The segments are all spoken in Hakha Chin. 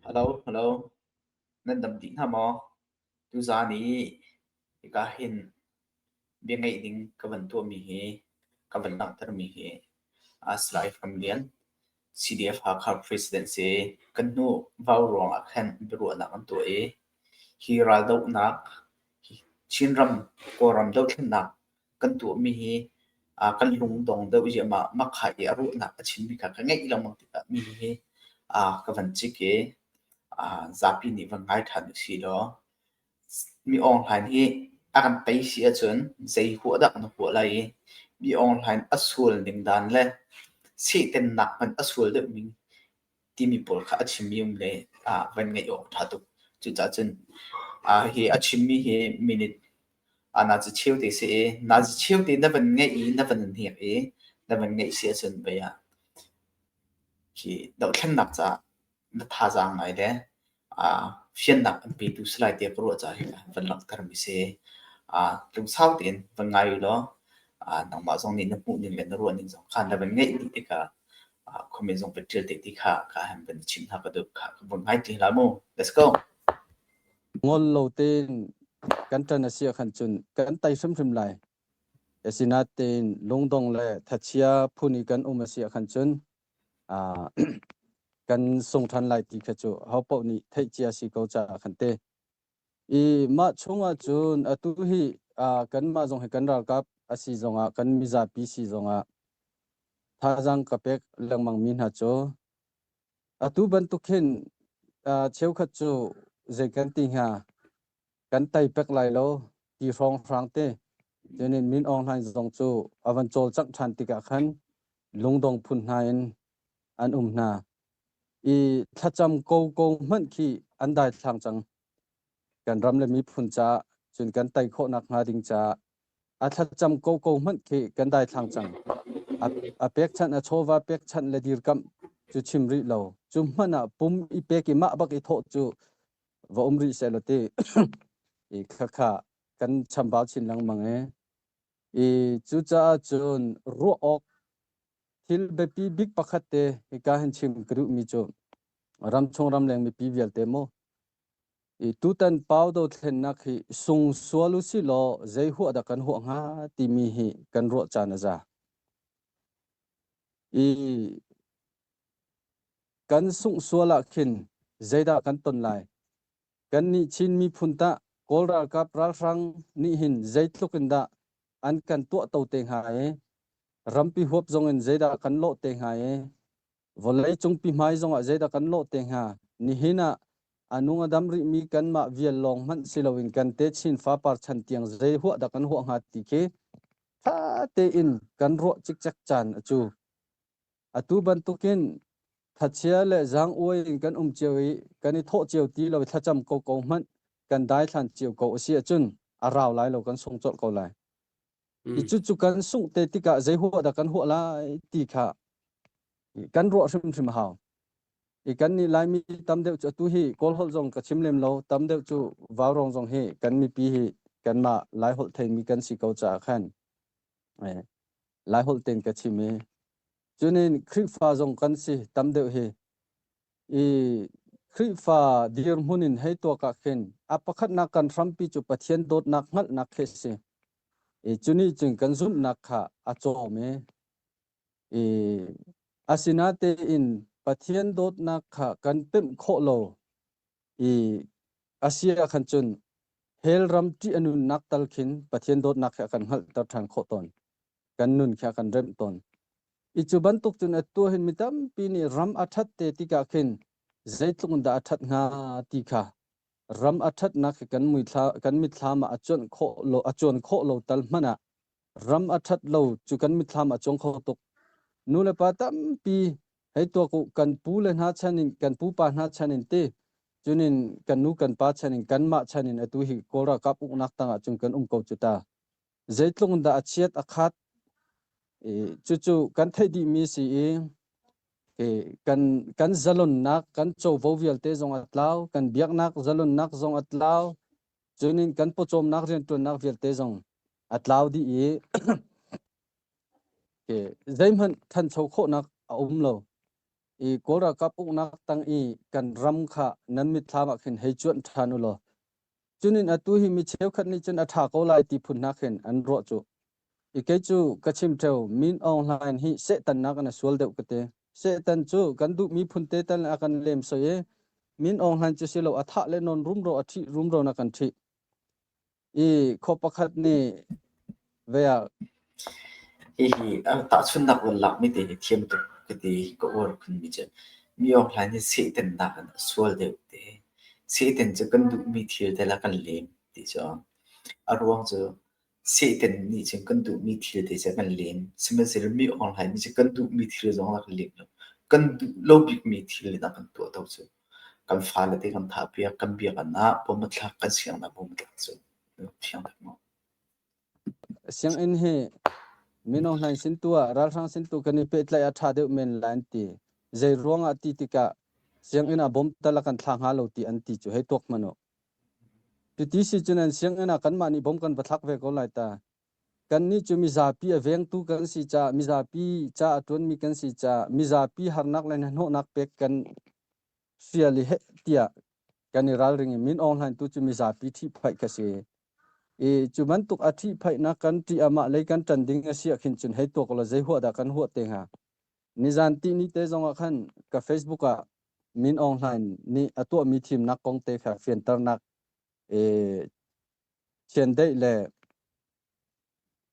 Halo, halo. Nan dam dih hna maw? Tuzaan i hika hin bia ngaih ding ka van tuahmi hi, ka van langhtermi hi as live kan lian. CDF-Hakha Presidency kan hnu vau ruang ah khan biaruahnak an tuah i, hi raldohnak, hi Chinram, Kawlram dothlennak kan tuahmi hi kan lungdong deuh ziahmah. Makha i a ruahnak a chimmi kha ka ngeih lengmang tikah mi hi ka van cik i zapi nih van ngai ṭhan usihlaw. Mi Aung Hlain hi a kan tei si ahcun zei huah dah na huah lai i Mi Aung Hlain a sual ning dan le sihtennak hmanh a sual deuhmi timi pawl kha a chimmi um le ah van ngeih awk ṭha tuk. Cucaah cun ah hi a chimmi hi minute ah naa ci cheu te si i naa ci cheu te na van ngeih i na van hnek i na van ngeih si ahcun vei ah hi dohthlennak caah na thazaang ngai le ah fiannak an petu si lai tiah ka ruah caah hika van langhtermi si. Ah lungsau tein van ngai u law ah nangmah zong nih na hmuhning le na ruahning zong kha na van ngeih dih tikah ah khuami zong van ṭial te ti kha ka han van i chimh hna ka duh. Kha ka vun ngai ti hlah mu. Let's go. ngol lo tein kan ṭan a si ah khan cun kan tei hrimhrim lai. Asinain lungdong le thachia phun i kan um a si ah khan cun kan sung ṭhan lai ti kha cu hopaoh nih theih cia si ko caah kan ti. I mah chungah cun atu hi kanmah zong hi kan ralkap a si zongah kan mizapi si zongah thazaang ka pek lengmangmi hna cu atu bantuk hin cheukhat cu zei kan ti hnga kan tei pek lai lo ti hrawnghrang te tenin min ong hlain zong cu avan cawlcangh ṭhan tikah khan lungdong phun hna in an um hna i thlacam ko ko hmanh khi an daithlang cang kan ram le miphun ca cun kan tei khawhnak hnga ding ca a thlacam ko ko hmanh khi kan daithlang cang a pekchanh a chawva pekchanh le dirkamh cu chim rih lo cu hmanh ah pum i pek i mah bak i thawh cu va um rih seh law ti i khakha kan chambau chin lengmang e i cucaah cun ruah awk thil biapi bik pakhat te hika hin chim ka duh mi cu ramchung ramleng mipi vialte maw i tutan pau do thlennak hi sung sual u si law zei hua dah kan hua hnga timi hi kan ruah caan a za i Kan sungh sual ah khin zeidah kan ton lai? Kan nih Chin miphun tah Kawl ralkap ralhrang nih hin zeitluk in dah an kan tuahto te hnga i rampi huap zong in zeidah kan lawh te hnga i vawlei cungpi hmai zongah zeidah kan lawh te hnga nihin ah a nung a dam rihmi kanmah vial lawng hmanh si loin kan te chin fapar chan tiang zei huah dah kan huah hnga ti khi ṭha tein kan ruah cikcek caan a cu. Atu bantukin thachia le zaanguai in kan um cio i kan i thawh cio ti lo i thlacam ko ko hmanh kan daithlan cio ko a si ahcun a rau lai lo kan sung colh ko lai. Mm. I cucu kan sungh te tikah zei huah dah kan huah lai ti kha kan ruah hrimhrim hau. I kan nih Laimi tam deuh cu atu hi kawlholh zong ka chim lem lo tam deuh cu vaurong zong hi kan mipi hi kanmah lai holh theimi kan si ko caah khan. Laiholh tein ka chim i cuni Khrihfa zong kan si tam deuh hi i Khrihfa dirhmun in hei tuak ah khin a pakhatnak kan hrampi cu Pathian dawtnak hngalhnak khi si i cuni cun kan zumhnak kha a cawm i i asinatein Pathian dawtnak kha kan pemh khawh lo i Asia ah khan cun hell ram ṭih a nunnak tal khin Pathian dawtnak khi a kan hngalhter ṭhan khawh tawn. Kan nun khi a kan remh tawn. I cu bantuk cun a tua hin mi tampi nih ram a ṭhat te tikah khin zeitluk in dah a ṭhat hnga ti kha ram a ṭhatnak hi kan, muithla, kan mitthlam ah a cuan khawh lo, a cuan khawh lo tal hmanh ah ram a ṭhat lo cu kan mitthlam a cuang kho tuk. Nulepa tampi hei tuak u kan pu le hna chan in kan pupa hna chan in ti cunin kan nu kan pa chan in kanmah chan in atu hi Kawl ralkap uknak tangah cun kan um ko cu ta. Zeitlung dah a chiat a khat i cucu kan theih dih mi si i i kan kan zalonnak kan covo vialte zong a tlau kan biaknak zalonnak zong a tlau Cunin kan pawcawmnak rianṭuannak vialte zong a tlau dih i zeihmanh ṭhancho khawhnak a um lo. I Kawl ralkap uknak tang i kan ram kha nan mitthlam ah khin hei cuanh ṭhan u law cunin atu hi mi cheukhat nih cun a ṭha ko lai ti phun hna khin an ruah cu I kei cu ka chim ṭheu, Min Aung Hlain hi Satan nakin a sual deuh ka ti. Satan cu kan duhmi phunte tal nih a kan lemsoi i Min Aung Hlain cu silo a thah le non rumro a ṭhih rumro in a kan ṭhih. I khua pakhat nih ve ah hihi an tahchunnak run lakmi te hi thiam tuk ka ti ka uar phunmi cu mi Aung Hlain hi Satan nakin a sual deuh ti hi Satan cu kan duhmi thil te la kan lem ti cu a ruang cu Satan nih cun kan duhmi thil te cu kan len. Sihmanhsehlaw mi ohaal nih cun kan duhmi thil zong a rak lem lo. Kan duh lo bikmi thil in a kan tuahto cu kan fale te kan thah piak, kan biakinn ah bom a thlak, kan sianginn ah bom a thlak cu fiang tak maw? Sianginn hi Mino Hlain sin tu ah ralhrang sin tu kan i pehtlaih a ṭha deuh men lai an ti. Zeiruang ah ti tikah sianginn ah bom tal a kan thlah hnga lo ti an ti cu hei tuak hmanh u. Cuti si cun an sianginn ah kanmah nih bawm kan va thlak ve ko lai ta. Kannih cu mizapi a vengtu kan si caah, mizapi ca a ṭuanmi kan si caah, mizapi harnak le hnahnawhnak pek kan fial i heh tiah kan i ralring i Min Aung Hlaing tu cu mizapi ṭhihphaih ka si. I cu bantuk a ṭhihphaihnak kan ṭih ah mah lei kan ṭan ding a si ah khin cun hei tuak ulaw zei huah dah kan huah te hnga? Nizan tihni te zong ah khan ka Facebook ah Min Aung Hlain nih a tuahmi thimnak kong te kha fianternak e, thiandeih le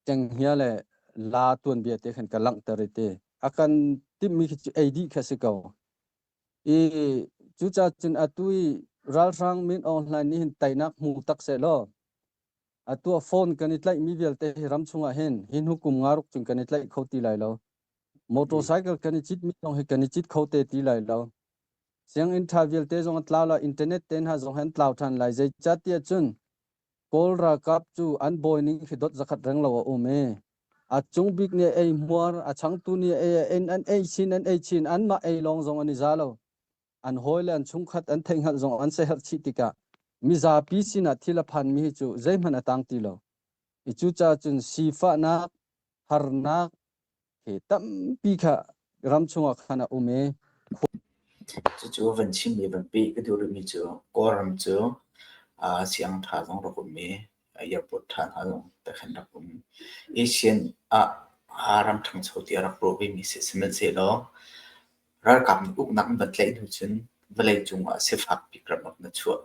kenghia le la tuanbia te khan ka langhter i ti a kan timhmi khi ei dih kha si ko i cuca cun atu i ralhrang Min Aung Hlain nih hin teinak hmu tak se law atu phone kan i tlaihmi vialte hi ram chungah hin hin hukum nga ruk cun kan i tlaih kho ti lai lo motorcycle kan i cit mi zong hi kan i cit kho te ti lai lo sianginn tha vialte zong a tlau la internet te hna zong an tlau than lai zei chat ti cun kawl ralkap cu an bawi ning khi dot zakhat reng lo a um e a chung bik ni ei muar a chang tu ni ei en an ei chin an ei chin an mah ei lawng zong an i za lo an hawi le an chungkhat an theihhngalh zong an seherh chih tikah mizapi sinah thil a phanmi hi cu zeihmanh a tang ti lo. I cucaah cun sifahnak, harnak he tampi kha ram chungah khan a um i cucu van chim i van peh ka duh rihmi cu kawlram cu siangtha zong rak um i airport than hal takhan rak um. Asian ah aa ram thangcho tiah rak ruah vemi si sihmanhsehlaw ralkap nih uknak an va tlaih hnu cun vawlei cungah sifak bik ramuk na chuah.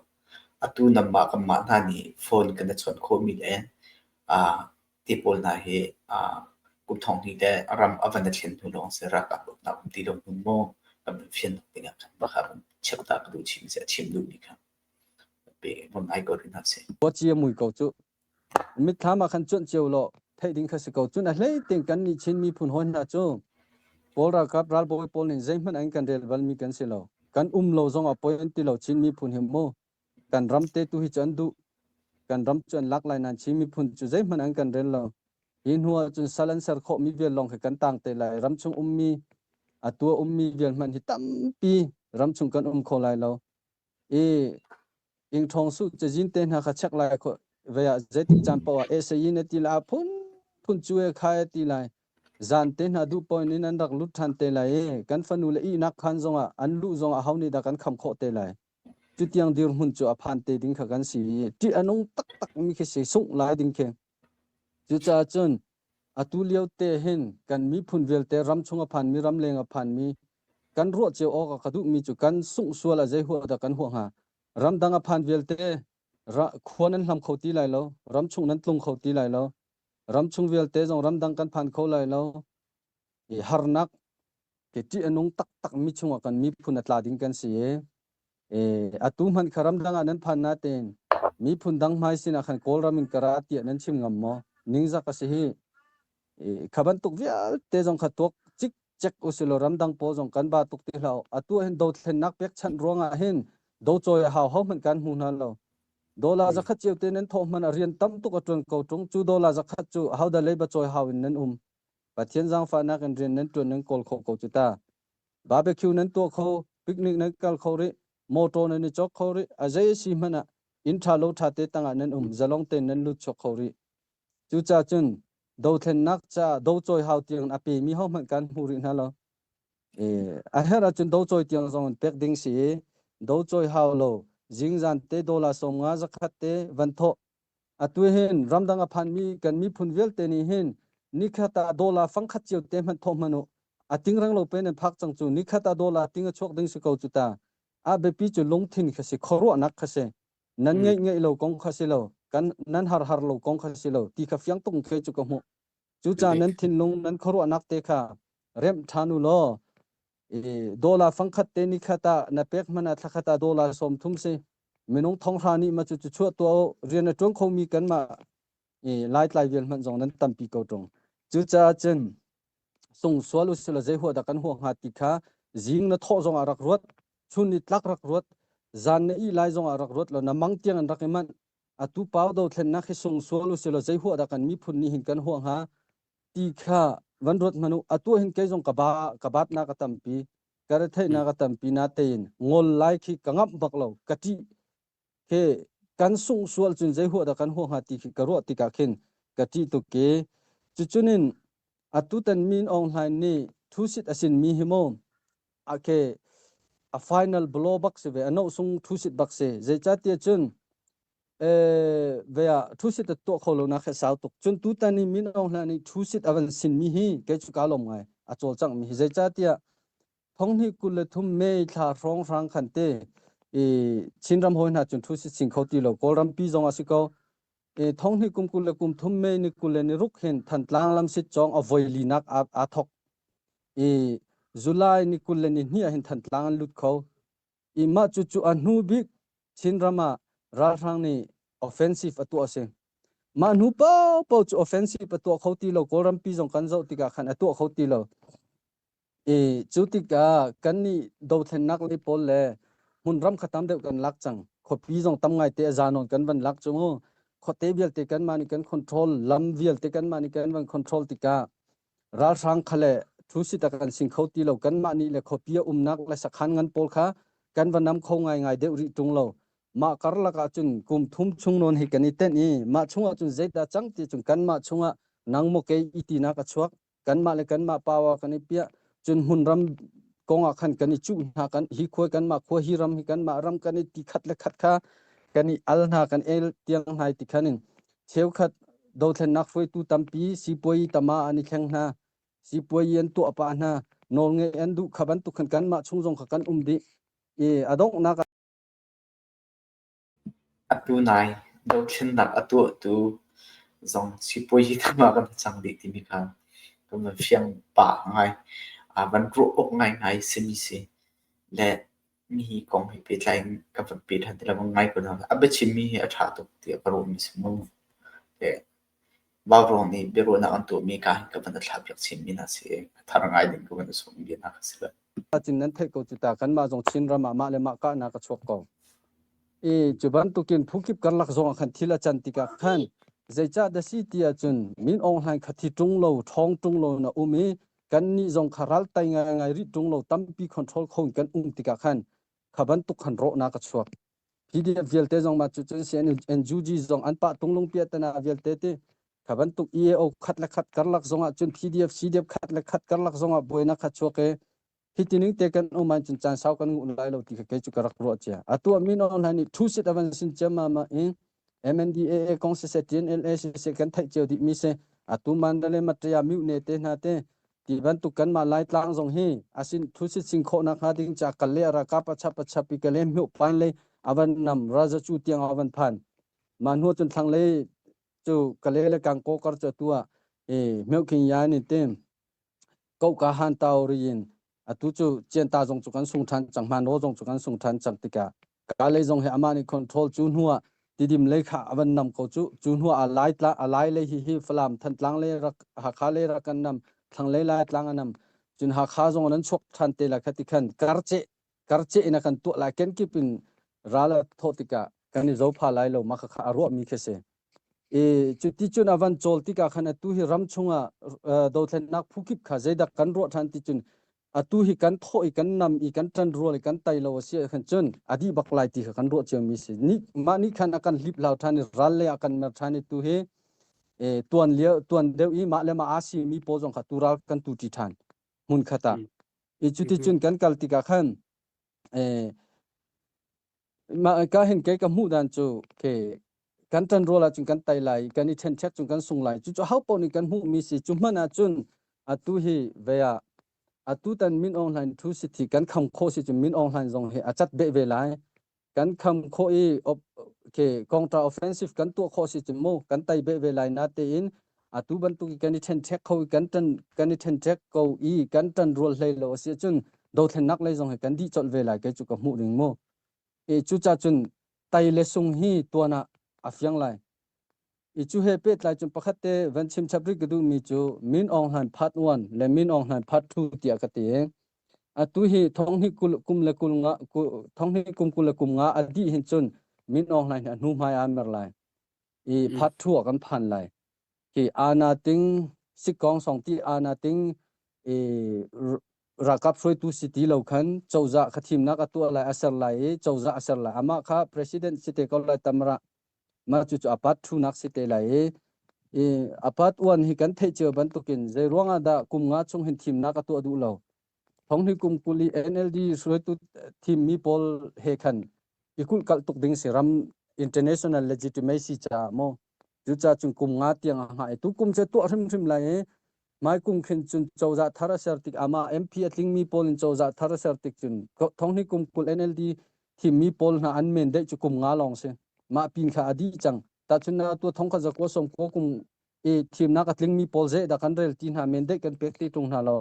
Atu nangmah kanmah hna nih phone kan i chawnh khawhmi le aa ti pawl hna hi aa kum thong hnih le ram a van i thlen hnu lawng si ralkap uknak um ti lo hnu maw kan fian ding ah khan va ka rung cheuh ta ka duh chim si a chim duhmi kha. Khuacia mui ko cu. Mitthlam ah khan cuanh cio law theih ding kha si ko. Cun a hlei ting kan nih Chin miphun hawi hna cu Kawl ralkap ralbawi pawl nin zeihmanh angin kan rel balmi kan si lo. Kan um lo zongah poi an ti lo Chin miphun hi mu. Kan ram te tu hi cu an duh. Kan ram cu an lak lai nan Chin miphun cu zeihmanh an kan rel lo. Hi hnu ah cun sal an ser khawh mi vial lawng khi kan tang te lai. Ramchung ummi a tua ummi vial hmanh hi tampi ramchung kan um kho lai lo. i ingṭhawng su cazin te hna kha chek lai kho ve ah zeitik caan paoh ah esayin a ti lai a phunphun cu e khai a ti lai zan te hna duh poin in an rak lut ṭhan te lai i kan fanu le ihnak khan zongah an lu zongah ho nih dah kan kham khawh te lai cutiang dirhmun cu a phan te ding kha kan si i ṭih a nung taktak mi khi si sungh lai ding khi Cucaah cun atu liote hin kan miphun vialte ramchung a phanmi, ramleng a phanmi kan ruah cio awk a ka duhmi cu kan sungh sual ah zei huah dah kan huah hnga? Ramdang a phan vialte khua nan hlam kho ti lai lo, ramchung nan tlung kho ti lai lo, ramchung vialte zong ramdang kan phan kho lai lo, i harnak ke ṭih a nung taktakmi chungah kan miphun a tla ding kan si i atu hmanh kha ramdang ah nan phan natein miphun dang hmai sinah khan kawlram in ka ra tiah nan chim ngam maw ningzak a si hi kha bantuk vialte zong kha tuak cik chek usilaw ramdang pawl zong kan ba tuk ti hlah atu hin do thlennak pekchanh ruangah hin do choi a hau ho hmanh kan hmu hna lo dola zakhat ceu te nan thawh hman a rian tam tuk a tuan ko tung cu dola zakhat cu hau da leiba choi hau in nan um Pathian zangfahnak in rian nan ṭuan nan kawl khawh ko cu ta. Barbecue nan tuah kho, picnic nan kal kho rih, mawṭaw nan i chawk kho rih, a zei a si hmanh ah inn ṭha lo ṭha te tangah nan um, zalong tein nan lut chuak kho rih. Cucaah cun dothlennak ca docawi hau tiang a pemi hohmanh kan hmu rih hna lo. E, a herh ahcun docawi tiang zong in pek ding si i, docawi hau lo, zingzan te dola sawmnga zakhat te van thawh, atu hin ramdang a phanmi kan miphun vialte nih hin nikhat ah dollar fangkhat cio te hmanh thawh hmanh u a ting rang lo pe nan phak cang cu nikhat ah dollar ting a chuak ding si ko cu ta a biapi cu lungthin kha si khuaruahnak kha si nan ngeih ngeih lo kong kha si lo kan nan har har lo kong kha si lo ti kha fiang tung khe cu ka hmuh cu ca nan thinlung nan khuaruahnak te kha remh ṭhan u law dollar fangkhat te ni khata na pek mana thlakhata dollar som thum se minung thonghra ni ma chu chu chuat to rian na tuang khomi kan ma lai tlai vial man zong nan tampi ko tong chu cha chen sung sual usila je huwa da kan huwa nga ti kha zing na tho zong arak ruat chun ni tlak rak ruat zan ne i lai zong arak ruat lo na mang tiang an rak iman atu paw do thlen na khi sung sual usila je huwa da kan mi phun ni hin kan huwa nga ti kha van ruat hmanu a tua hin kei zong ka ba ka bat na ka tampi ka retheih na ka tampi na tein ngol lai khi ka ngap bak lo ka ti ke kan sung sual cun zei hua da kan hua ha ti khi ka ruah tikah khin ka ti tu ke cucunin atutan min ong hlain ni thu sit asin mi hi mo ake a final blow bak se ve ano sung thu sit bak se zei cha tia cun eh vea thu sit to kho lo na kha sau tuk chun tu tan ni min ong hla ni thu sit avan sin mi hi ke chu ka lom ngai a chol chang mi hi zecha tia thong hi kul le thum me thla rong rang khan te e chin ram hoi na chun thu sit sing kho ti lo kol ram pi jong asiko e thong hi kum kul le kum thum me ni kul le ni ruk hin than tlang lam sit chong avoi li nak a thok e julai ni kul le ni ni hin than tlang lut kho i mah cucu a hnu bik Chinram ah ralhrang nih offensive a tuah a si. Mah hnu paohpaoh cu offensive a tuah kho ti lo. Kawlrampi zong kan zoh tikah khan a tuah kho ti lo. I cu tikah kannih dothlennak lei pawl le hmun ram kha tam deuh kan lak cang. Khuapi zong tam ngaite a za nawn kan van lak cu mu. Khuate vialte kanmah nih kan control, lam vialte kanmah nih kan van control tikah ralhrang kha le thu sitak an sing kho ti lo kanmah nih le khuapi a umnak le sakhan ngan pawl kha kan va nam kho ngaingai deuh rih tung lo mah karlak ah cun kum thum chung nawn hi kan i ten i mah chungah cun zeidah cang ti cun kanmah chungah nang mo ke i tinak a chuak kanmah le kanmah pawa kan i piah cun hmun ram kongah khan kan i cuh hna kan hi khua kanmah khua hi ram hi kanmah ram kan i ti khat le khat kha kan i al hna kan el tiang hnai ti khanin Cheukhat dothlennak hruaitu tampi sipuai tama an i kheng hna. Sipuai an tuah pah hna. Nawl ngeih an duh kha bantuk khan kanmah chung zong kha kan um dih. I a donghnak Atu nai dothlennak a tuahtu zong sipuai hi kanmah kan cang dih timi kha kan van fiang pah ngai. Aa van ruah awk ngaingai simi si. Le Nihi kong he pehtlai in ka va pe ṭhan ti lo. Ngai ko na. A biachimmi hi a ṭha tuk tiah ka ruahmi a si maw? Le Vaurung nih biaruahnak an tuahmi kaa hi ka van i thlahpiak chinmi hna si i ka thar ngai ding ka van i sawm mi hna ka si lo. Cin nan theih ko cu ta. Kanmah zong Chin ram ah mah le mah kahnak a chuak ko. I cu bantukin phukip karlak zong ah khan thil a can tikah khan zeicah dah si ti ahcun Min Aung Hlaing kha thi ṭung lo, ṭhawng ṭung lo in a um i kannih zong kha ral tai ngaingai rih ṭung lo tampi control kho in kan um tikah khan kha bantuk khan rawhnak a chuak PDF vialte zong mah cu cun CNNG zong an pah tung lungpia tana vialte ti kha bantuk EAO khat le khat karlak zongah cun PDF CDF khat le khat karlak zongah buainak kha chuak e hitining te kan um an cun chan sau kan ngun lai lo ti kha kei cu ka rak ruah cia atu min online nih thu sit avan sin chema ma in MNDAA kong si se TNLA si se kan theih cio dih mi si atu man le matraya miu ne te hna te ti bantuk kan ma lai tlang zong hi asin thu sit sing kho na kha ding cha kal le ara ka pa chap pa chap pi kale myu pan le avan nam raja chu tiang avan phan ma nu chun thang le chu kale le kang ko kar cha tua e meu king ya ni te koka hantau ri in atu cu cianta zong cu kan sung ṭhan cang hmanaw zong cu kan sung ṭhan cang tikah ka lei zong hi amah nih control cu hnuah tidim lei kha a van nam ko cu cu hnuah a lai tla a lai lei hi hi falam thantlang lei rak hakha lei rak kan nam thlang lei lai tlang a nam cun hakha zong an chuak ṭhan te la khati khan karce karceh in a kan tuah lai kenkip in ral a thawh tikah kan i zopha lai lo maka kha a ruahmi khi si i cu ti cun avan cawl tikah khan atu hi ram chungah dothlennak phu kip kha zeidak kan ruah ṭhan ti cun atu hi kan thawh i kan nam i kan ṭan rual i kan tai lo a si khan cun adi bak lai ti kha kan ruah cio mi si ni mah ni khan akan hlip lau ṭhan i ral le akan mer ṭhan i tu hi tuan lia tuan deuh i mah le mah asi mi pawl zong kha tu ral kan tu ṭi ṭhan hmun khata i cuticun kan kal tikah khan mah ka hin kei ka hmuh dan cu ke kan ṭan rual ahcun kan tai lai kan i ṭhenchek cun kan sung lai cucu hopaoh nih kan hmuhmi si cu hmanh ahcun atu hi vei ah atu tan min aung hlain thu si thi kan kham khawh si cun min aung hlain zong hi a cat beh ve lai kan kham khawh i kontra offensive kan tuah khawh si cun mu kan tai be ve lai na tein atu bantuk i kan i thenchek kho i kan tan kan i thenchek ko i kan tan rual hlei lo si cun dothlennak lei zong hi kan di chol ve lai kai chu ka hmuh ring mu e cu cha cun tai le sung hi tuan ah a fiang lai i cu he pehtlai cun pakhat te van chim chap ri ka duhmi cu min ong hlan phat 1 le min ong hlan phat 2 tiah ka ti atu hi thonghni kum le kum nga thonghni kum kul le kum nga a dih hin cun min ong hlan hi a hnu hmai an mer lai i phat 2 kan phan lai ki ana ting sikong song ti ana ting i rakap hruaitu si ti lo khan choza kha thimnak atu lai aser lai i choza aser lai ama kha president si te ko lai tamra mah cu a pat thu nak si te lai i i apat uan hi kan theih cio bantukin zei ruangah dah kum nga chung hin thimnak a tuah duh lo thonghni kum kuli NLD suretu thim mi pawl he khan i kul kal tuk ding si ram international legitimacy cha mo cu cha chung kum nga tiang a nga tu kum che tuah hrim hrim lai Mai kum khin cun cozah thar a ser tik amah MP a tlingmi pawl in cozah thar a ser tik cun thonghni kum kul NLD thimmi pawl hna an men daih cu kum nga lawng si mah pin kha a dih cang tahcun na tu thong kha zakua som ko kum e thimnak a tlingmi pawl ze da kan rel ti hna men daih kan pek ti tung hna lo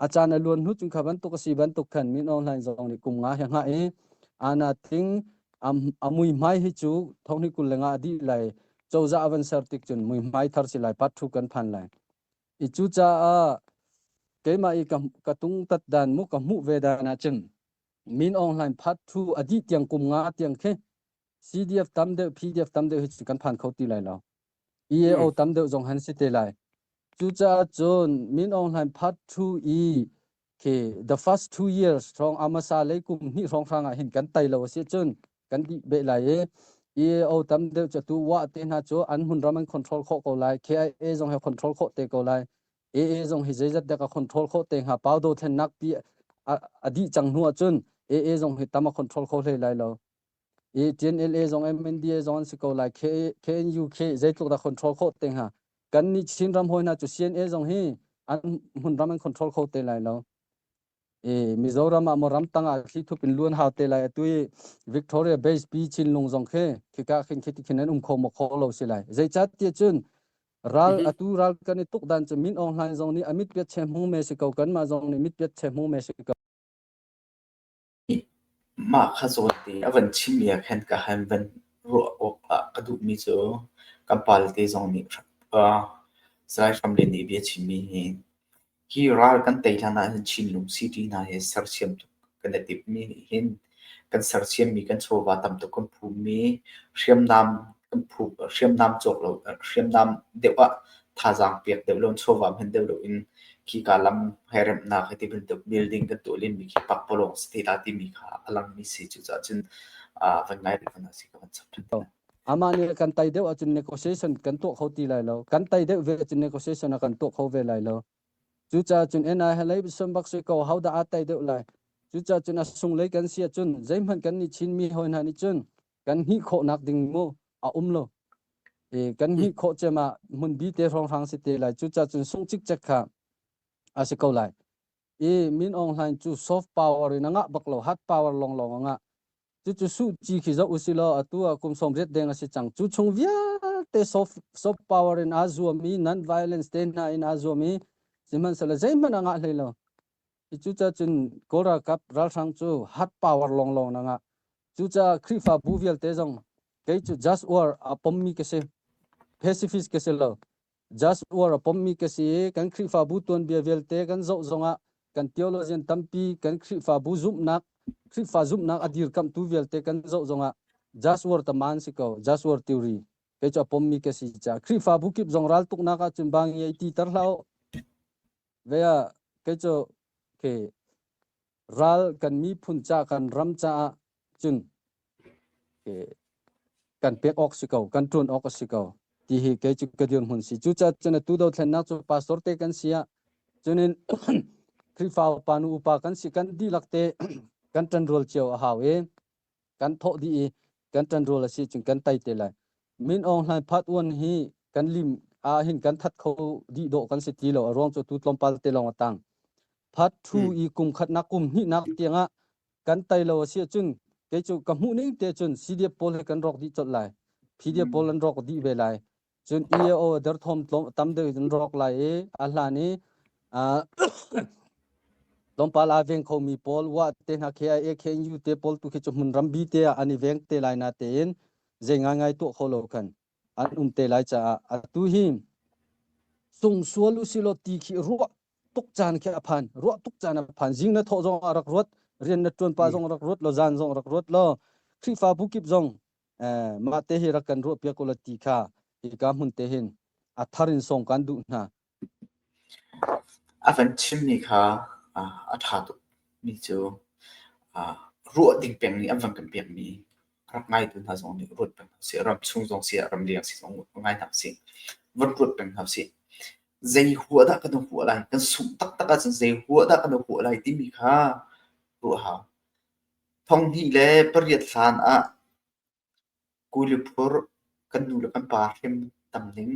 a caan a luan hnu cun kha bantuk a si bantuk khan min online zong nih kum nga hi nga e ana ting am amui mai hi cu thongni kul lenga a dih lai cozah a van ser tik cun muihmai thar si lai part two kan phan lai i cu caah keimah i ka, ka tung tat dan mu ka hmuh ve dan ah cun min ong hlain part two a dih tiang kum nga tiang khi CDF tam deuh PDF tam deuh hi cu kan phan kho ti lai lo EAO tam deuh zong han si te lai cucaah cun min ong hlain part two i Okay, the first two years thawng amasa lei kum hnih hrawng hrang ah hin kan tai lo asi cun kan dih be lai i EAO tam deuh cu tu wa te hna cu an hun ram an control kho ko lai KIA zong he control kho te ko lai AA zong hi zeizat dek a control kho te hnga pau do thlen nak pi a dih chang hnu cun AA zong hi tam a control kho hlei lai lo i ṭin LA zong in NDA zong an si ko lai KNU khi zeitluk dah control khawh te hnga kan nih Chin ram hoi hna cu CNA zong hi an hmun ram an control kho te lai lo i Mizoram ah mo ram tang ah thli thup in luan hau te lai atu i Victoria Base Pi Chinlung zong khi khika khin khi tikhin an um kho mo kho lo si lai zeichat tiah cun ral atu ral kan i tuk dan cu Min Aung Hlain zong nih amit piat che hmu me si ko kanmah zong nih mit piat che hmu me si ko Mah kha zawtte a van chimh i a khan ka han van ruah awk ah ka duhmi cu ka palte zong nih Salai Hram Lian nih bia a chimmi hi hi ral kan tei hlan ahhin Chinlung city hna hi sersiam tuk kan i timhmi nih hin kan sersiammi kan chawva tam tuk kan phummi hriamnam kan phup hriamnam cawk lo hriamnam deuh ah thazaang pek deuh lo, chawva hman deuh loin khika lam he remhnak hi tibantuk building kan tuah len mi khi pakpalawng si te ta timi kha a lang mi si cucaah cun ah van ngai rih fanah si ka van chap ṭhan. Amah nih kan tai deuh ahcun negotiation kan tuah kho ti lai lo. Kan tai deuh ve ahcun negotiation a kan tuah kho ve lai lo. Cucaah cun NI he lei som bak sui ko hau dah aa tai deuh lai. Cucaah cun a sung lei kan si ahcun zeihmanh kan nih Chin mi hoi hna nih cun kan hnih khawhnak ding mu a um lo i kan hnih khawh cem ah hmunbi te hrawnghrang si te lai cu ca cun sung cik cek kha a si ko lai i min ong hlain cu soft power in anga bak lo hard power long long anga cu cu su chi khi zo usilo atu a kum som riat deng asi chang chu chung vialte soft soft power in a zuam i non violence te hna in a zuam i sihmanhsela zeihmanh anga hlei lo Cucacun Kawl ralkap ralhrang cu hard power lawnglawng nang ah cucaah Khrihfabu vialte zong kei cu just war a pommi ka si pacifist ka si lo just war a pommi ka si i kan Khrihfabu tuanbia vialte kan zoh zongah kan theologian tampi kan Khrihfabu zumhnak Khrihfa zumhnak a dirkamhtu vialte kan zoh zongah just war tama an si ko just war theory kei cu a pommi ka si caah Khrihfabu kip zong raltuknak ahcun bang i ei ti tar hlah u Vea kei cu ke ral kan miphun ca kan ram caah cun ke kan pek awk si ko kan ṭuan awk a si ko ti hi kei cu ka dirhmun si cucaah cun atu dothlennak cu pastor te kan si ah cunin Khrihfa upa nu upa kan si kan dihlak te kan ṭanrual cio a hau i kan thawh dih i kan ṭanrual a si cun kan tei te lai. Min Aung Hlaing Part One hi kan lim ah hin kan that kho dih dawh kan si ti lo a ruang cu tu tlawmpal te lawng a tang. Part Two hmm. i kum khatnak kum hnihnak tiangah kan tei lo a si cun kei cu ka hmuh ning te cun CDF pawl hi kan rawk dih colh lai. PDF hmm. pawl an rawk dih ve lai. Cun i a aw derthawm tlawm tam deuh in rawk lai i a hlan i ah tlawmpal aa veng khomi pawl wah te hna khi a ekhen u te pawl tu khi cu hmun rambi te ah an i veng te lai na tein zei ngaingai tuah kho lo khan an um te lai caah atu hi sung sual u silaw ti khi ruah tuk caan khi a phan ruah tuk caan a phan zing na thawh zong a rak ruat rian na tuan pa zong rak ruat lo zan zong rak ruat lo Khrihfabu kip zong mah te hi rak kan ruah piak ko la ti kha hika hmun te hin a thar in song kan duh hna a van chimmi kha a ṭha tukmi cu ruah ding peng nih an van kan pekmi rak ngaitu hna zong nih ruat peng hna sih ram chung zong si ram liang si zong ngai hna si van ruat peng hna si zei hua dah kan hua lai kan sung taktak ahcun zei hua dah kan hua lai timi kha ruah hau Thonghnih le pariat hlan ah kuli phur kan nu le kan pa hrim tam ning,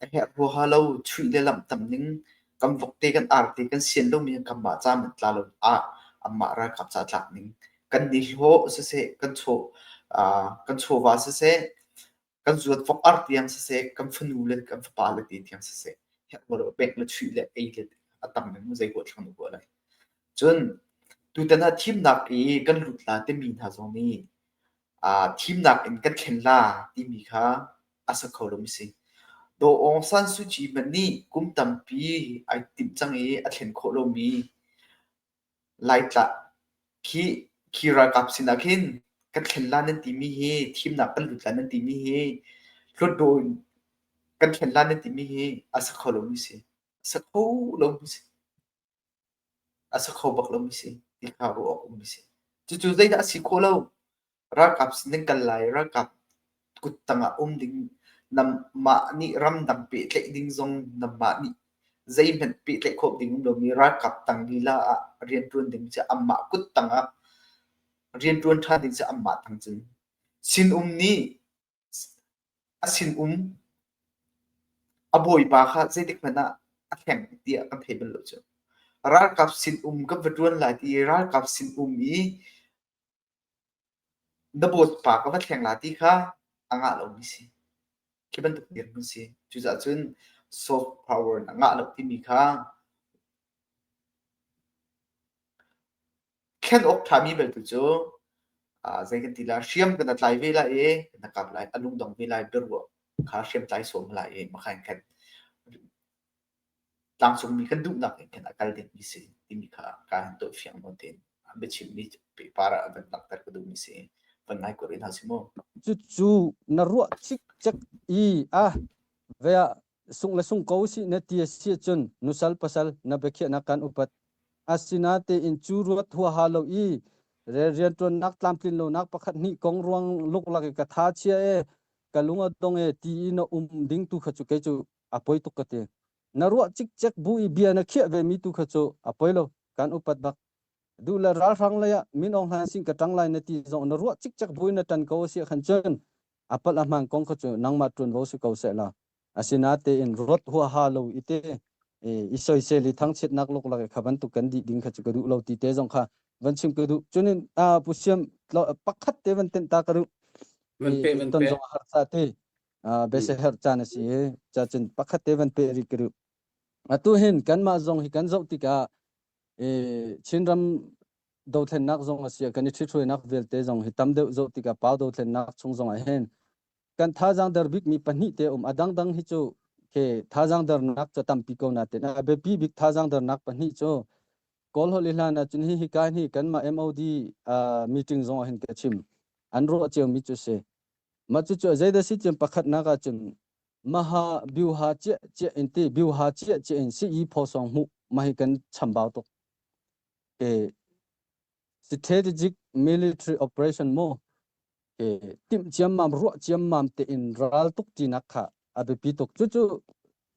a herh huaha lo chuih le lamh tam ning, kan vok te, kan arti, kan sian lomi an kan mah caan tla lo ah anmah ralkap ca tlak ning kan ni hlawh siseh, kan chaw, kan chawva siseh, kan zuat vok ar tiang siseh, kan fanu le kan fapa le te tiang siseh, hiak lo le bek le chuih le ei le a tam le mu zei kuah thlang kuah lai. Cun tutan ah thimnak i kan lut la timi hna zong nih uh, thimnak in kan thlen la timi kha a sa kho lomi si. Daw Aung San Suu Kyi hmanh nih kum tampi ai timh cang i a thlen khawh lomi Laitlah khih khi ralkap sinah khin kan thlen la nan timi hi thimnak kan lut lai nan timi hi hlutdaw in kan thlen la nan timi hi a sa kho lomi si. Sa kho lomi si. A sa kho bak lomi si ti hna ruh awk ummi si. Cucu zeidah a si khawh lo? Ralkap si ding kan lai. Ralkap kuttang ah um ding namah nih ramdang pehtlaih ding zong namah nih zeihmanh pehtlaih khawh ding um lomi ralkap tang lila ah riantuan ding cu amah kuttang ah riantuan ṭhan ding cu amah tang cun sinum nih a sinum a bawipa kha zeitik hmanh ah a hleng tiah kan thei bal lo cu. Ralkap sinum kan va ṭuan lai ti i ralkap sinum i Na bawipa ka va thleng la ti kha a ngah lomi si. Khi bantuk tiang an si. Cucaah cun soft power na ngah lo timi kha thlen awk ṭhami belte cu ah zei kan ti lai, hriam kan tlai ve lai i na kap lai, a lungdong ve lai, biaruah kha hriamtlai sawm lai i makha in khat. Tlangcungmi kan duhnak in khin a kal dingmi si timi kha kaa hin tuah fiang nawn tein a biachimmi pehpar ah a van langhter ka duhmi si. Van ngai kuat rih hna si mu. Cucu na ruah cikcek i a vea sung le sung ko si na ti a si cun nusal pasal na biakhiahnak kan upat. Asinatein cu ruat huaha lo i rianṭuannak tlamtlin lonak pakhat hnih kong ruang luklak i ka tha chia e, ka lung a dong e ti i na um ding tu kha cu kei cu a poi tuk ka ti. Na ruah cikcek bu i bia na khiah vemi tu kha cu a poi lo, kan upat bak. Duh le ralhrang lei ah Min Aung Hlaing sin ka ṭang lai na ti zong na ruah cikcek bu in na ṭan ko a si ahkhan cun a palh a hmaan kong kha cu nangmah ṭuan vo si ko seh la. Asinatein ruat huaha lo i te i soisel i thangchiatnak luklak i kha bantuk kan dih ding kha cu ka duh lo ti te zong kha van chim ka duh. Cunin pu siam pakhat te van tenh ta ka duh. Van pe, van pe. Ton zong a harsa te. biasaherh caan a si i cacun pakhat te van pe rih ka ruh atu hin kanmah zong hi kan zoh tikah chinram dothlennak zong a si kan i ṭhithruainak vialte zong hi tam deuh zoh tikah pau dothlennak chung zong ah hin kan thazaang der bikmi pahnih te um a dangdang hi cu ke thazaang dernak cu tampi ko na ten a biapi bik thazaang dernak pahnih cu kawlholh i hlan ahcun hi hika hi kanmah MOD meeting zong ah hin ka chim an ruah ciomi cu si Mah cucu zeidah si cun pakhatnak ah cun maha biuha ciah ciah in ti biuha ciah ciah in si i phosong hmuh mah hi kan chambau tuk ke strategic military operation mo ke tim ciam mam ruah ciam mam te in ral tuk ti nak kha a biapi tuk cu cu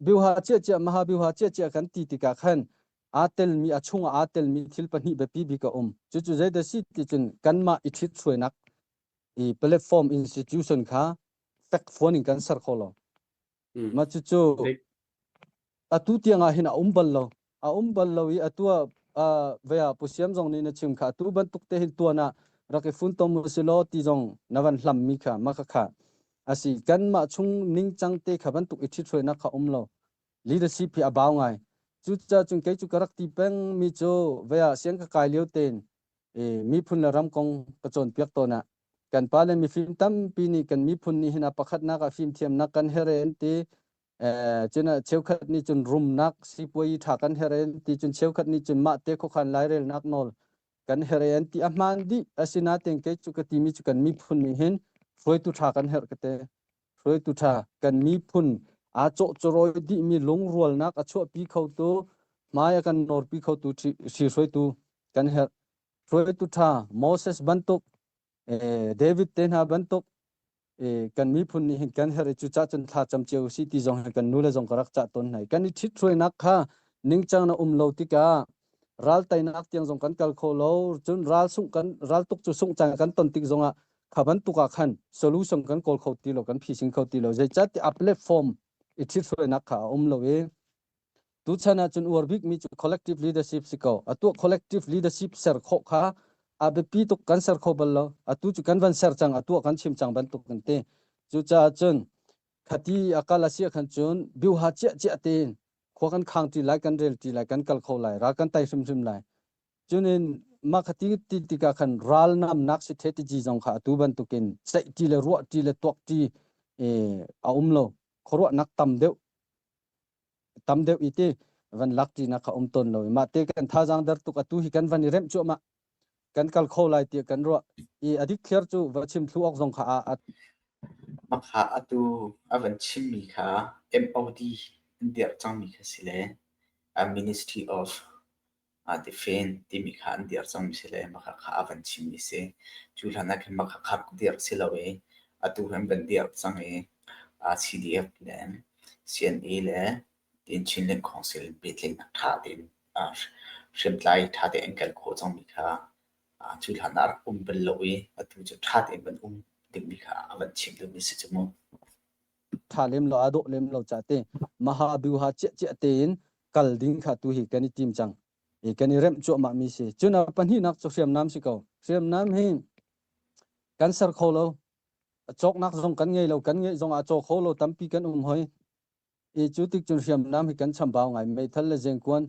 biuha ciah ciah maha biuha ciah ciah kan ti tika khan a tel mi a chung a tel mi thil pahnih biapi bi ka um cu cu zeidah si ti cun kanmah i thlit suainak i platform institution kha fekfuan in kan ser kho lo mm. ma cucu atu tiang ah hin a um bal lo a um bal lo i atu ah vea pusiam zong nih na chim kha atu bantuk te hin tuan ah rak i fun tom silo ti zong na van hlam mi kha ma kha kha asi kan ma chung ning chang te kha bantuk i thithwe na kha um lo leadership hi abau ngai cu cha chung ke chu karak ti peng mi cho vea siang ka kai leo ten miphun le ram kong ka cawnpiak tawn ah kan pa le mifim tampi nih kan miphun nih hin a pakhatnak ah fimthiamnak kan her an ti cun cheukhat nih cun rumnak sipuai tha kan her an ti cun cheukhat nih cun mah te khokhan lairelnak nawl kan her an ti a hmaan dih asinaten kei cu ka timi cu kan miphun nih hin hruaitu tha kan herh ka te Hruaitu ṭha, kan miphun aa cawhcawrawi dihmi lungrualnak a chuahpi khotu, hmai a kan norpi khotu si hruaitu kan herh. Hruaitu ṭha Moses bantuk, David te hna bantuk kan miphun nih hin kan herh i cucah cun thla cam cio u sih ti zong hi kan nu le zong ka rak cah tawn hna i kan i ṭhithruainak kha ningcang na um lo tikah ral teinak tiang zong kan kal kho lo cun ral sungh kan ral tuk cu sungh cang kan ton tik zongah kha bantuk ah khan solution kan kawl kho ti lo kan phising kho ti lo zei cat ti a platform i thit hruainak kha a um lo i tu chan ah cun uar bik mi cu collective leadership si ko atu collective leadership ser kho kha a biapi tuk kan ser kho bal lo atu cu kan van ser cang atu kan chim cang bantuk kan ti cucaah cun Khati a kal a siah khan cun biuha ciah ciah tein khua kan khang ti lai kan rel ti lai kan kal kho lai ra kan tai hrimhrim lai cunin mah khati ti tikah khan ral nam nak si the ti ji zong kha atu bantukin ceih ti le ruah ti le tuak ti a um lo khuaruah nak tam deuh tam deuh i ti van lak ti na kha um ton lo ma te kan thazang der tuk atu hi kan van i rem chuama kan kal kho lai ti kan ro i adik thlir chu va chim thlu ok zong kha a makha atu avan chim mi kha MOD an der chang mi kha sile a Ministry of Aa tifen timi kha an dirh cangmi si le Makha kha a van chimmi a si. Cu hlan ah khin Makha kha rak dirh si lo i atu hin an van dirh cang i CDF le CNA le Tin Chin Lin Council biatling ah ṭha tein hriamtlai ṭha tein an kal khawh cangmi kha cu hlan ah rak um bal lo i atu cu ṭha tein van um dingmi kha a van chim dingmi a si cu mu. tha lem lo a dawh lem lo cha te maha bu ha cia cia tein kal ding kha tu hi kan i tim chang i kan i rem chuah ma mi si chuna pahnih nak chu hriam nam si ko hriam nam hi kan ser kho lo chok nak zong kan ngei lo kan ngei zong a cho kho lo tampi kan um hoi i chu tik chun hriam nam hi kan chambau ngai mei thal le jeng kuan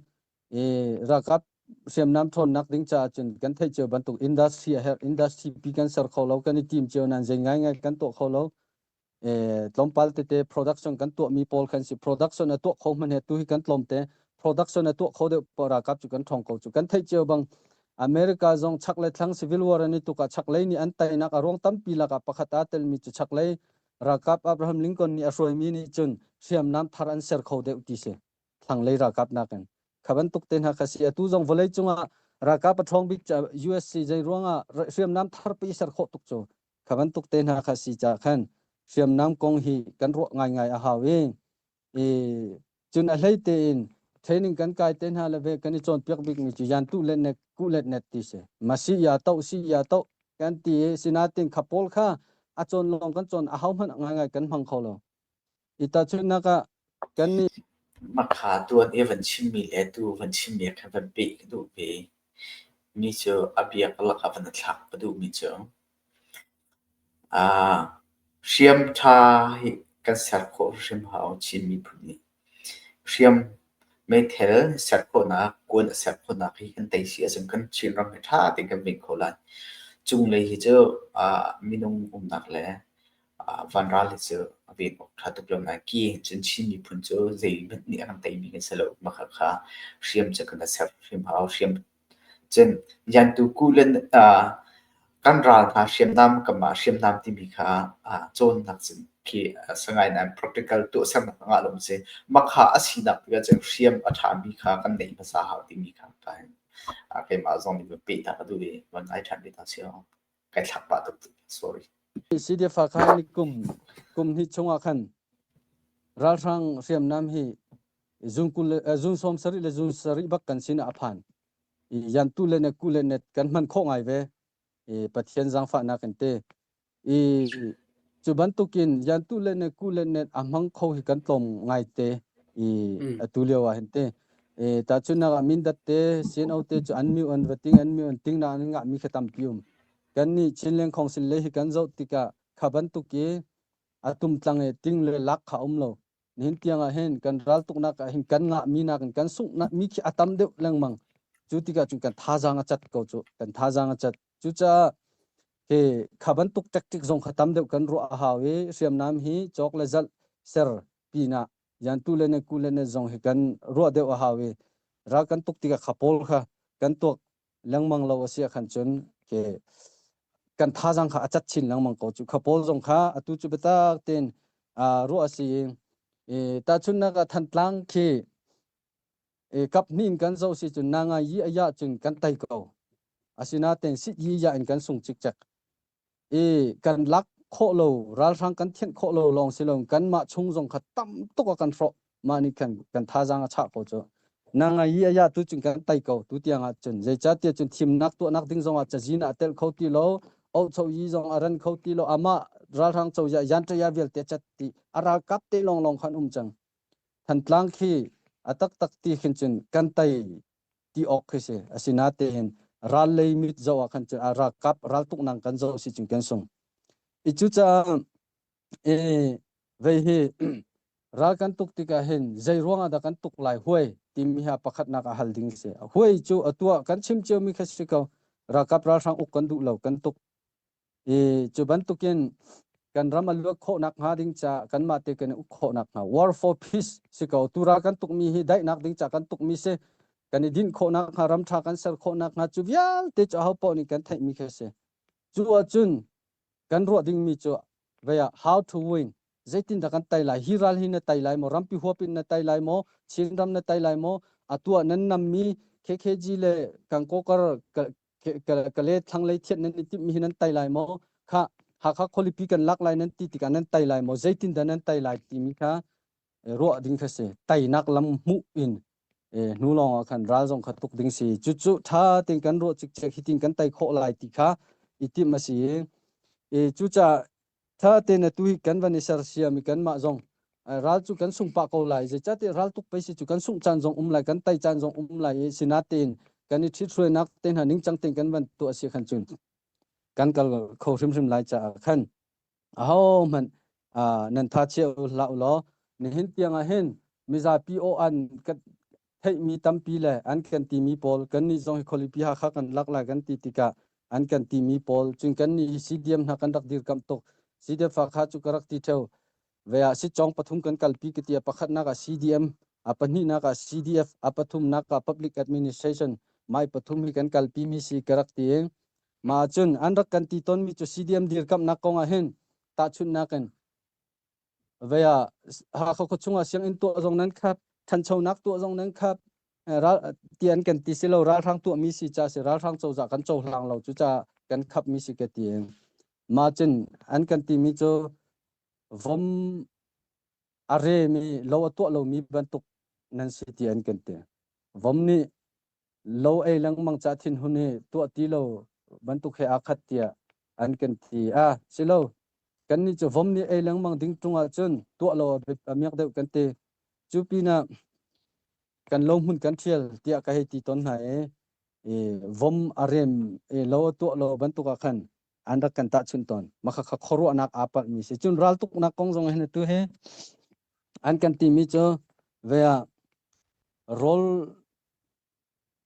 i rakap hriam nam thon nak ding cha chun kan thei cheu bantuk industry a her industry pi kan ser kho lo kan i tim cheu nan jeng ngai ngai kan to kho lo tlawmpal tete production kan tuahmi pawl kan si production a tuah kho hman he tu hi kan tlawmte production a tuah kho deuh para kap cu kan thong ko cu kan theih cio bang America zong chak le thlang civil war ani tuka chak lei ni an tainak a ruang tampi laka pakhat a telmi cu chak lei rakap Abraham Lincoln ni a hruaimi ni cun hriamnam thar an ser kho deuh ti si thlang lei rakap nakin khaban tuk te hna khasi atu zong vawlei cungah rakap a thong bik US si jai ruangah hriamnam thar pi ser kho tuk cu Kha bantuk te hna kha si cah khan hriamnam kong hi kan ruah ngaingai a hau i i cun a hlei tein training kan kai te hna le ve kan i cawnpiak bikmi cu yan tu let net ku let net ti si ma si ya to si ya to kan ti i sinatin kha pawl kha a cawn lawng kan cawn a ho hmanh ngaingai kan hmang kho lo I tahchunhnak ah, kannih Maka tuan i van chimmi le tu van chimmi kha van peh ka duh ve. Mi cu a biak lak a van a thlak ka duhmi cu. Ah, hriamtha hi kan ser khawh hrim hau Chin miphun nih. Hriam, meithal ser khawhnak, kuan a ser khawhnak hi kan tei si ahcun kan Chinram hi ṭha tein kan veng kho lai. Cunglei hi cu minung umnak le vanral hi cu a ven awk ṭha tuk lo nain ki in cun Chin miphun cu zeihmanh nih a kan tei mi kan si lo. Mahkhakha hriam cu kan ser hrim hau. Hriam Cun Liantu Kuhlen kan ral hna hriamnam kanmah hriamnam timi kha cawnnak cun khi Sagaing nan practical tuahsernak ah lawng a si. Makha a sinak tik ahcun hriam a ṭhami kha kan neih hmasa hau timi kha keimah zong nih va pehdah ka duh i va ngai ṭhan ve hna sehlaw kai thlak pah tuk. Sorry. Sihdefa kha ni kum kum hnih chung ah khan ralhrang hriamnam hi zun kul zun sawm sarih le zun sarih bak kan sin a phan yan tu le net ku le net kan man kho ngai ve i pathian zangfahnak kan te i cu bantukin yan tu le net ku le net a hmang kho hi kan tlom ngai te i atu lio a hen te e ta chu na min dat te sin au te chu an mi on vating an mi on ting na nga mi khatam pium kan ni chin leng khong sin le hi kan zo tika khaban tuki atum tlange ting le lak kha um lo nihin tiang ah hin kan raltuknak ah hin kan ngah mi nak in kan sunghnak mi khi a tam deuh lengmang cu tikah cun kan thazaang a cat ko cu kan thazaang a cat cucaah hi kha bantuk tactic zong kha tam deuh kan ruah a hau i hriamnam hi cawk le zalh ser pinah yantu le ne ku le ne zong hi kan ruah deuh a hau i ral kan tuk tikah kha pawl kha kan tuak lengmang lo a si khan cun ke kan thazang kha a cat chin lengmang ko cu kha paul zong kha atu cu biatak ten ruah a si i tahchunnak ah thantlang khi e kap hnin kan zo si cun nanga yi aya cun kan tai ko asina ten sit yi ya in kan sung cik chek i kan lak khawh lo ralhrang kan thianh khawh lo lawng si lo kan mah chung zong kha tam tuk a kan hrawh mah nih kan kan thazaang a chah ko cu na ngai i aya tu cun kan tai ko tu tiang ah cun zeicahtiah cun thimnak tuahnak ding zong ah cazin ah tel kho ti lo ocho yi zong a ran kho ti lo amah ralhrang co ya yan ya vialte chat ti a ralkap te long long khan um chang than tlang khi a tak tak ti khin cun kan tai ti awk khi si asi na te hin ral lei mit zo ah khan ah ralkap raltuk nang kan zo si ching ken sung i cu cha e vei hi ral kan tuk tika hin zai ruanga da kan tuk lai huai ti mi ha pakhat nak a hal ding se huai chu atua kan chim cheu mi kha si ko rakap ral hrang uk kan du lo kan tuk I cu bantukin kan ram a luat khawh nakhnga ding ca kanmah te kan i uk khawh nakhnga war for peace si ko tura kan tukmi hi daihnak ding ca kan tukmi si kan i dinh khawh nakhnga ram tha kan ser khawh nakhnga cu vialte cu aho poh nih kan theihmi kha si cu ahcun kan ruah dingmi cu vea how to win zeitin dah kan tai lai hi ral hi na tai lai maw rampi huapin na tai lai maw chin ram na tai lai maw atuah nan nammi KKG le kangkokar ka le thlanglei thian nan i timmi hi nan tei lai maw kha hakha khualipi kan lak lai nan ti tikah nan tei lai maw zeitin dah nan tei lai timi kha ruah ding kha si teinak lam hmuh in hnu lawng ah khan ral zong kha tuk ding si cu cu tha ten kan ruah cikcek hi tin kan tei khawh lai ti kha i tim a si i cuca Tha tein a tui kan van i sersiam i kanmah zong ral cu kan sung pah ko lai zeicahtiah ral tuk pei si cu kan sungh caan zong um lai kan tai caan zong um lai i sina tein kan i ṭhit hruainak te hna ningcang tein kan van tuah a si khan cun kan kal kho hrimhrim lai caah khan aho hmanh nan tha chia u hlah u law nihin tiang ah hin mizapi aw an theihmi tampi le an kan timi pawl kannih zong hi khualipi Hakha kan lak lai kan ti tikah an kan timi pawl cun kannih hi CDM hna kan rak dirkamh tuk CDF Hakha cu ka rak ti theo ve ah sicong pathum kan kalpi ka ti a pakhatnak ah CDM a pahnihnak ah CDF a pathumnak ah public administration mai pathum hi kan kalpi mi si ka rak ti ma cun an rak kan ti tonmi cu CDM dirkamhnak kong ah hin tahchunhnak in vaya hakha kho chunga sianginn tuah zong nan khat thanchonak tuah zong nan khat tian kan ti silo ralhrang tuah mi si cha si ralhrang cozah kan co hlang lo cu cha kan khap mi si ke tieng ma chin an kan ti mi cu vom are mi lo atuah lo mi bantuk nan si ti an kan ti vom nih lo ei lengmang ca thinhun hi tuah ti lo bantuk he aa khat tiah an kan thi a si lo kan nih cu vom nih ei lengmang ding tung ah cun tuah lo miak deuh kan ti cu pinah kan lo hmun kan thial tiah ka hei ti ton hna e e vom arem e lo tuah lo bantuk ah khan an rak kan tah chun ton maka kha khorwanak aa palh mi si cun ral tuknak kong zong hin tu he an kan ti mi cu ve ah rawl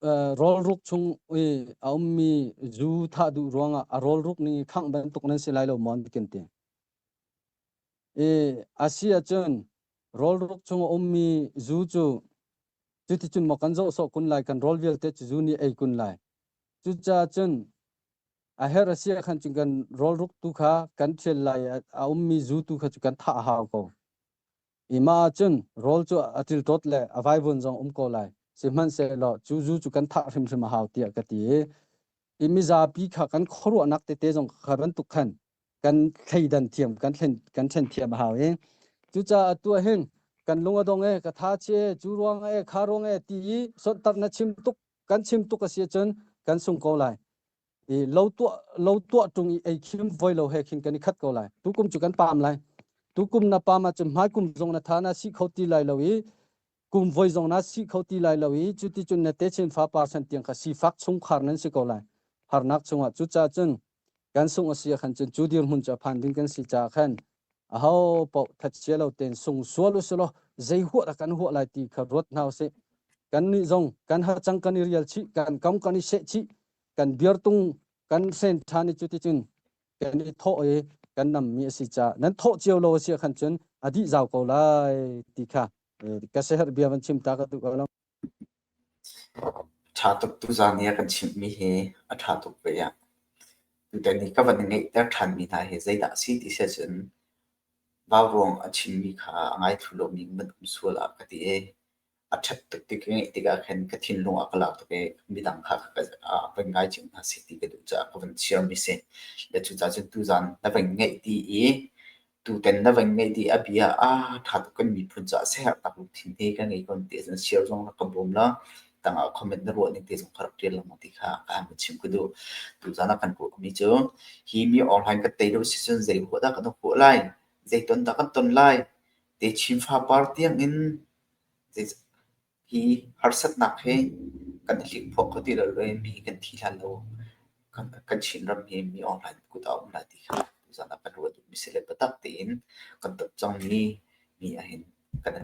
rawlruk chung i a ummi zu thah duh ruangah a rawlruk ning i khangh bantuk nan si lai lo maw bikin ti. I a si ahcun rawlruk chung a ummi zu cu cuticun maw kan zoh sawh kun lai kan rawl vialte cu zu nih ei kun lai. Cucaah cun a her a si ahkhan cun kan rawlruk tu kha kan thial lai a ummi zu tu kha cu kan thah a hau ko. Ima cun rawl cu a tiltot le a vaivun zong um ko lai. Sihmanhsehlaw cu zu cu kan thah hrimhrim a hau tiah ka ti i i mizapi kha kan khuaruahnak tete zong kha bantuk khan kan thleidan thiam kan thlen kan ṭhen thiam a hau i cucaah atu ah hin kan lung a dong e ka thachi e cu ruang e kha ruang e ti i sonhtarh na chim tuk kan chim tuk a si ahcun kan sung ko lai i lo tuah lo tuah tung i ei khim voi lo he khin kan i khat ko lai tu kum cu kan pam lai tu kum na pam ah cun hmai kum zong na tha na si kho ti lai lo i kum voi zong na si kho ti lai lo i cu ti cun na te chin fa parsan tiang kha sifak chung khar nan si ko lai harnak chungah cu ca cun kan sung a sia khan cun cu dir mun cha phan ding kan si cha khan a ho po thachia lo ten sung sual usilo zei huat kan huat lai ti kha ruat hnaw se kan ni zong kan ha chang kan i rial chi kan kam kan i se chi kan dirtung kan sen ṭhan i cuticun kan i thawh i kan nammi a si caah nan thawh cio lo a si khan cun a dih zau ko lai ti kha ka seher bia van chim ta ka duh ko lo ṭha tuk tu zan nia kan chimmi hi a ṭha tuk ve ya tutan ni ka van i ngeihter ṭhanmi hna hi zeidah a si ti se cun vau ruang a chimmi kha a ngai thu lomi mun um sual ah ka ti i a ṭhat tuk ti ka ngeih tikah khan ka thinlung a ka lak tuk i midang kha ka ngai chin hna si ti ka duh caah ka van chiarmi si. Le cucaah cun tuzaan na van ngeih dih i tutan na van ngeih dih a bia ah ṭha tuk kan miphun caah siaherh tak lungthin te ka ngei ko ti a cun share zong rak ka bawm la tangah comment na ruah ning te zong ka rak ṭial lengmang ti kha ka han chim ka duh. Tuzaan a kan kuahmi cu hi mi online ka tei lo si cun zei huah dah kan rak huah lai, zei ton dah kan ton lai, te Chinfa par tiangin Hi harsatnak hi kan i hlikphuah kho ti lo le mi kan thi hlan lo kan chin rammi mi online kut ah um lai ti kha tuzaan ah kan ruah duhmi si le biatak tein kan tat cangmi mi ahhin kan i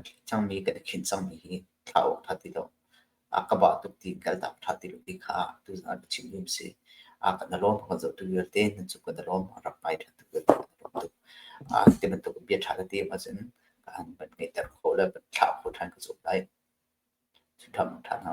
khinh cangmi hi thla awng ṭha ti lo. a ka bah tuk ti ka dap ṭha ti lo ti kha tu a chimmi a si. A ka dalawm ka zohtu vialte nan cu ka dalawm a rak ngai ṭha tuk ka dalawm tuk. A ti bantuk bia ṭha ka ti ahcun ka han van ngeihter khawh le van thlah khawh ṭhan ka zuam lai. Cu ṭha ṭha hna.